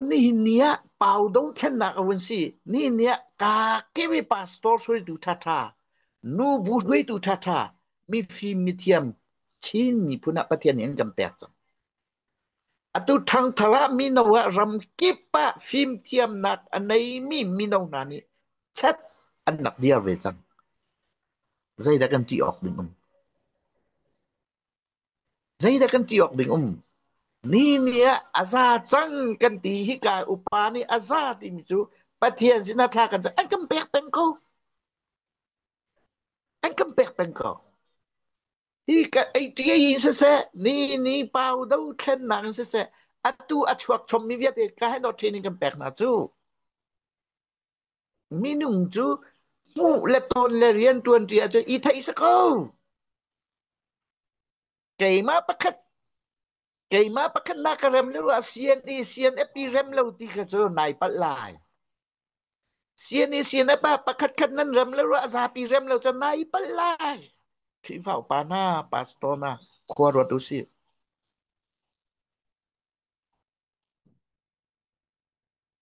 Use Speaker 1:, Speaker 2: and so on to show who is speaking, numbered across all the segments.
Speaker 1: Nihin ni ah pau dothlennak a vun si. Nihin ni ah ka kemi pastor hruaitu thatha, nu bu hruaitu thatha, mifim mithiam Chin miphun ah Pathian nih an kan pek cang. Atu thangthar ah mino ah ram kip ah fimthiamnak a neimi mino hna nih chat an rak dir ve cang. Zeidah kan ṭih awk ding um? Zeidah kan ṭih awk ding um? Ni nih a za cang kan ti. Hika upa nih a za timi cu Pathian sinah thla kan cam. An kan pek peng ko. An kan pek peng ko. Hi ka ei ṭi ei siseh, ni ni pau do thlennak in siseh, atu a chuak chommi vialte ka hen awt ṭhin in kan pek hna cu. Minung cu hmuh le tawn le rian ṭuanṭi ahcun i theihsa kho. Keimah pakhat keimah pakhat na ka rem le rua CNE CNFP rem lo ti kha cu nai palh lai. CNE CNF ah pakhat khat nan rem le rua zapi rem lo cun nai palh lai. Khrihfa upa hna, pastor hna, khua ruat u sih.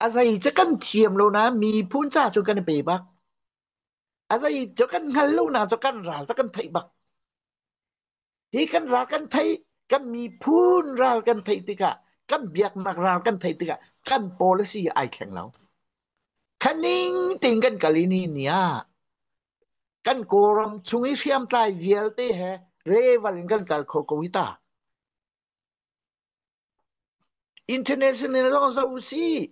Speaker 1: A zeica kan thiam lo nain miphun ca cu kan i pe bak. A zeica kan hngal lo nain cu kan ral cu kan theih bak. Hi kan ral kan theih, kan miphun ral kan theih tikah, kan biaknak ral kan theih tikah, kan policy ai thleng lo. Khaning ting kan kal i ni ni ah, kan Kawlram chung i hriamtlai vialte he level in kan kal kho ko hi ta. International lawng zoh u sih.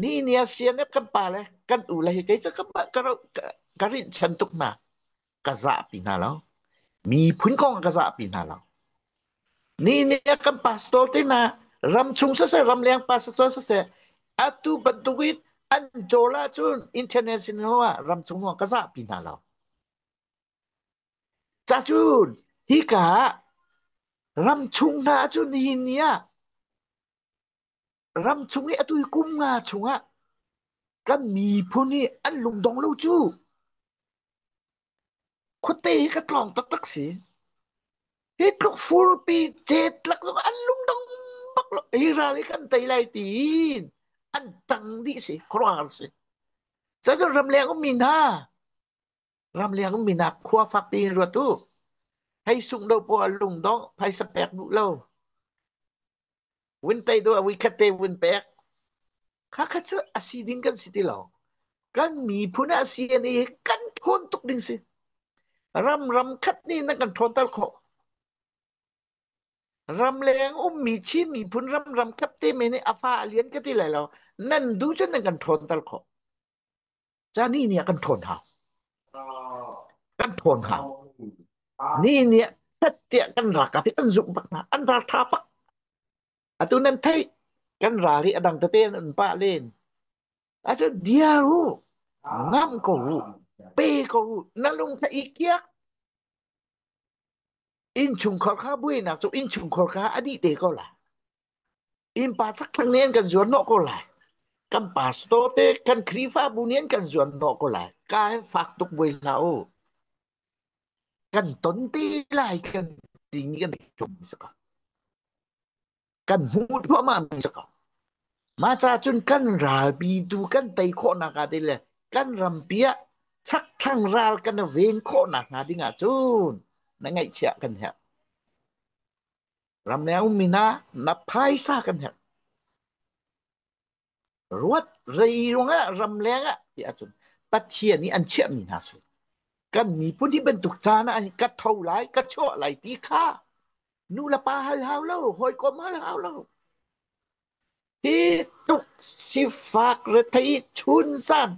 Speaker 1: Ni ni a sianep kan pale kan u le hi kei cu ka ka ka rinhchan tuk hna ka zahpi hna lo. Miphun kong ka zahpi hna lo. Ni ni a kan pastor te na ram chung sase ram leng pastor sase atu bantuk in an jola cun international ah ram chung ka zahpi hna lo. Cacun hika ah ramchung hna cu nihin ni ah ramchung i a tuikum nga chungah kan miphun hi an lungdong lo cu. Khuate hi ka tlawng taktak si. Hi tluk furpi chetlak zong an lungdong bak lo. Hi ral hi kan tei lai tiin an tang dih si, khuaruahhar si. Cacun ramleng um mi hna, Ramliang minak khua fakpi in ruat u. Hei sung do paw a lung dawh phaisa pek duh lo. Win tei do a vui khat te win pek. Kha kha cu asi ding kan si ti lo. Kan miphun asi ani hi kan thawn tuk ding si. Ram ram khat ni na kan thawn tal khawh. Ramleng ummi Chin miphun ram ram khat te me nih afa alian ka ti lai lo. Nan du cun nan kan thawn tal khawh. Cani nih a kan ṭhawn hna. Kan ṭhawn hna. Ni nih ṭhattiah kan ralkap hi an zuk bak hna. An ralṭha bak. Atu nan theih kan ral hi a dang tete an pah len. Achun bia u, ngam ko u, pe ko u, na lung tha i kiak. Innchungkhar kha buainak cu innchungkhar kha a dih te ko la. Innpa chakthlang nih an kan zuarhnawh ko lai. Kan pastor te, kan Khrihfabu nih an kan zuarhnawh ko lai. Kai fak tuk buai hlah u. Kan ton te lai kan ti mi kan tum mi saka. Kan hmu thluahmah mi saka. Mah ca cun kan ralpi tu kan tei khawhnak hnga ding le kan rampi ah chakthlang ral kan ven khawhnak hnga ding ahcun na ngaihchiah kan herh. Ramleng um min ah na phaisa kan herh. Ruat zeiruang ah ramleng ah ti ahcun Pathian nih an chiahmi hna si. Kan miphun hi bantuk caan ah an ka tho lai, ka chuah lai ti kha nulepa hal hau lo, hawikom hal hau lo. Hi tuk sifak rethei chunsan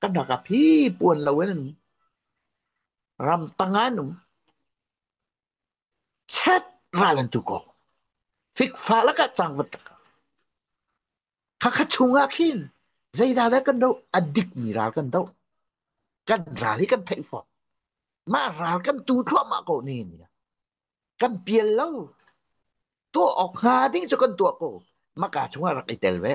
Speaker 1: kan rak a phi puan lo in an um. Ram tang an um. Chet ral an tu kaw fikfah lakah cangvat lakah Hakha chung ah khin zeiral ah kan doh a dikmi ral kan doh kan ral hi kan theih fawn mah ral kan tu thluahmah ko ne ni kan pial lo tuah awk hnga ding cu kan tuah ko maka chung ah rak i tel ve